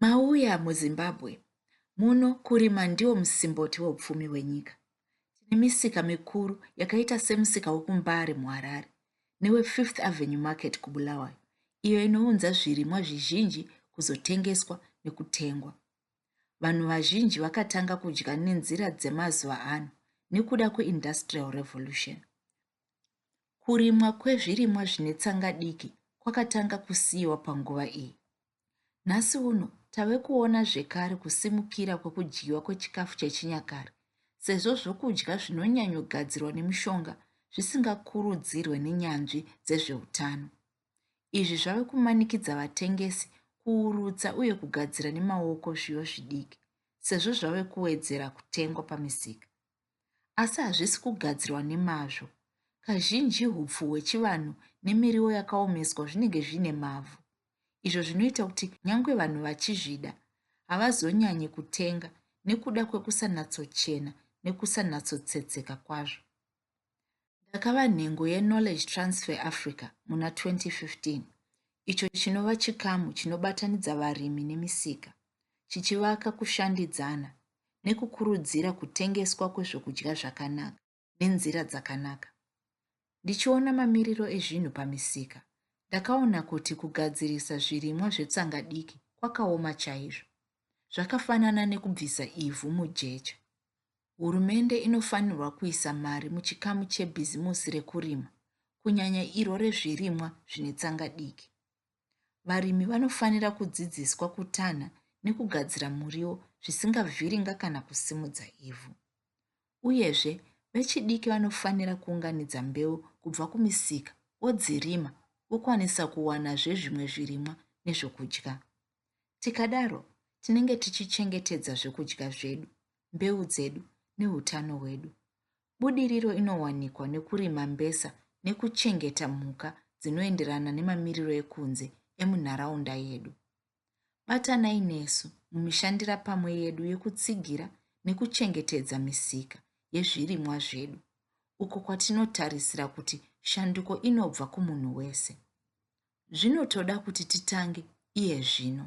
Mauya muZimbabwe muno kurima ndiwo musimboti weupfumi wenyika. Tine misika mikuru yakaita semusika wekuMbare muHarare neweFifth Avenue Market kuBulawayo iyo inounza zvirimwa zvizhinji kuzotengeswa nekutengwa. Vanhu vazhinji vakatanga kudya nenzira dzemazuva ano nekuda kweindustrial revolution. Kurimwa kwezvirimwa zvine tsanga diki kwakatanga kusiyiwa panguva iyi. Nhasi uno tave kuona zvekare kusimukira kwekudyiwa kwechikafu chechinyakare sezvo zvokudya zvinonyanyogadzirwa nemushonga zvisingakurudzirwe nenyanzvi dzezveutano. Izvi zvave kumanikidza vatengesi kuurutsa uye kugadzira nemaoko zviyo zvidiki sezvo zvave kuwedzera kutengwa pamisika. asi hazvisi kugadzirwa nemazvo. Kazhinji hupfu hwechivanhu nemiriwo yakaomeswa zvinenge zviine mavhu, izvo zvinoita kuti nyange vanhu vachizvida havazonyanyi kutenga nekuda kwekusanatsochena nekusanatsotsetseka kwazvo. Ndakava nhengo yeKnowledge Transfer Africa muna 2015, icho chinova chikamu chinobatanidza varimi nemisika, chichivaka kushandidzana nekukurudzira kutengeswa kwezvokudya zvakanaka nenzira dzakanaka. Ndichiona mamiriro ezvinhu pamisika, ndakaona kuti kugadzirisa zvirimwa zvetsanga diki kwakaoma chaizvo. Zvakafanana nekubvisa ivhu mujecha. Hurumende inofanirwa kuisa mari muchikamu chebhizimusi rekurima, kunyanya iro rezvirimwa zvine tsanga diki. Varimi vanofanira kudzidziswa kutanha nekugadzira muriwo zvisingavhiringa kana kusimudza ivhu. Uyezve, vechidiki vanofanira kuunganidza mbeu kubva kumisika vodzirima vokwanisa kuwanazve zvimwe zvirimwa nezvokudya. Tikadaro, tinenge tichichengetedza zvekudya zvedu, mbeu dzedu neutano hwedu. Budiriro inowanikwa nekurima mbesa nekuchengeta mhuka dzinoenderana nemamiriro ekunze emunharaunda yedu. Batanai nesu mumishandira pamwe yedu yekutsigira nekuchengetedza misika yezvirimwa zvedu, uko kwatinotarisira kuti shanduko inobva kumunhu wese. zvinotoda kuti titange iye zvino.